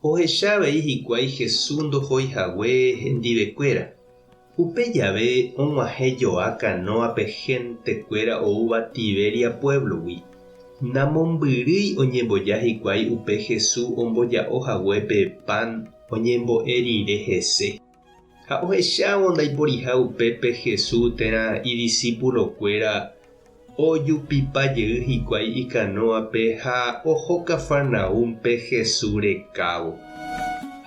Ohecha avei hikuái Jesús ndohói hague hendivekuéra. Upe jave og̃uahẽ joa kanóape héntekuéra oúva Tiberia puévlogui. Namombyrýi oñemboja hikuái upe Jesús omboja'o hague pe pan oñembo'e rire hese. Ha ohechávo ndaiporiha upépe Jesús térã idisipulokuéra, ojupipa jey hikuái ikanóape ha oho Cafarnaúmpe Jesús rekávo.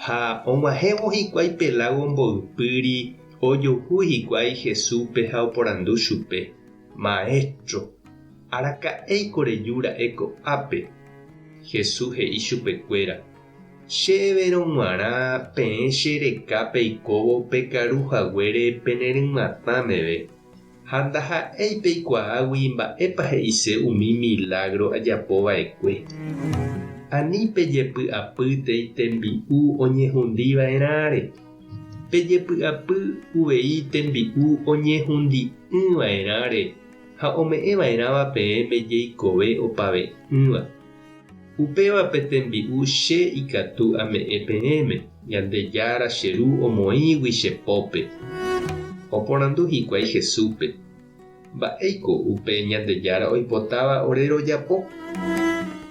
Ha og̃uahẽvo hikuái pe lágo mboypýri, ojuhu hikuái Jesúspe ha oporandu chupe, Maéstro, araka'éiko reju ra'e ko'ápe? Jesús he'i chupekuéra, Che everõ g̃uarã peẽ che reka peikóvo pe karu haguére pene rymatã meve, ha ndaha'éi peikuaágui mba'épa he'ise umi milágro ajapo va'ekue. Ani pejepy'apy tei tembi'u oñehundi va'erãre. Pejepy'apy uvei tembi'u oñehundi'ỹ va'erãre ha ome'ẽ va'erãva peẽme jeikove opave'ỹva. Upéva pe tembi'u Che ikatu ame'ẽ peẽme, Ñandejára, che Ru omoĩgui che pópe. Oporandu hikuái Jesúspe, Mba'éiko upe Ñandejára oipotáva ore rojapo?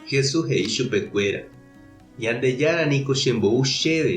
Jesús he'i chupekuéra, Ñandejára niko chembou chéve.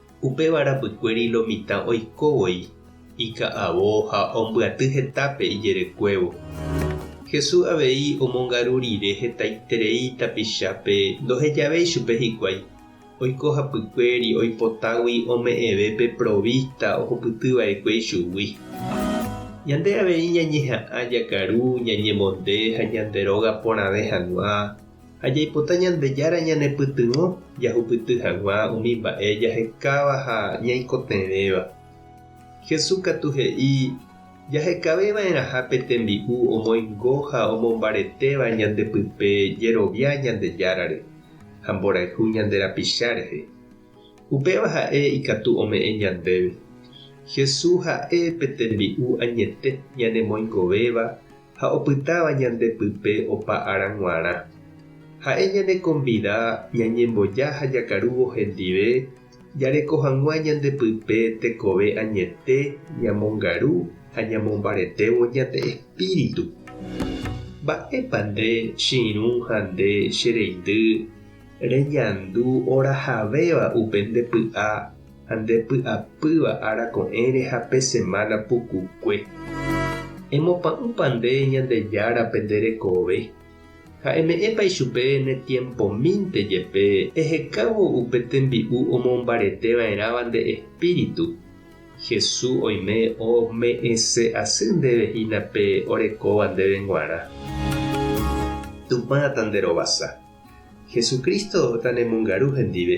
Upéva rapykuéri lo mitã oiko voi ika'avo ha ombyaty hetápe ijerekuévo. Jesús avei omongaru rire hetaiterei tapichápe ndohejavéi chupe hikuái, oiko hapykuéri oipotágui ome'ẽve pe provísta ohupyty va'ekue ichugui. Ñande avei ñañeha'ã jakaru, ñañemonde ha ñande róga porãve hag̃ua Ha jaipota Ñandejára ñanepytyvõ jahupyty hag̃ua umi mba'e jahekáva ha ñaikotevẽva. Jesús katu he'i jahekaveva'erãha pe tembi'u omoingo ha omombaretéva ñandepype jerovia Ñandejárare ha mborayhu ñande rapicha rehe. Upéva ha'e ikatu ome'ẽ ñandéve. Jesús ha'e pe tembi'u añete ñanemoingovéva ha opytáva ñande pype opa ára g̃uarã. Ha'e ñanekonvida ñañemboja ha jakarúvo hendive jareko hag̃ua ñande pype tekove añete ñamongaru ha ñamombaretévo ñande espíritu. Mba'épa nde che irũ ha nde che reindy reñandu orahavéva upe nde py'a? ha nde py'apýva ára ko'ẽre ha pe semana pukukue. Emopa'ũpa nde Ñandejárape nde rekove, ha eme'ẽpa ichupe ne tiempomínte jepe ehekávo upe tembi'u omombarete va'erãva nde espíritu. Hesu oime ome'ẽse asy ndéve hína pe orekóva ndéve g̃uarã. Tupã tanderovasa. Jesucristo tanemongaru hendive.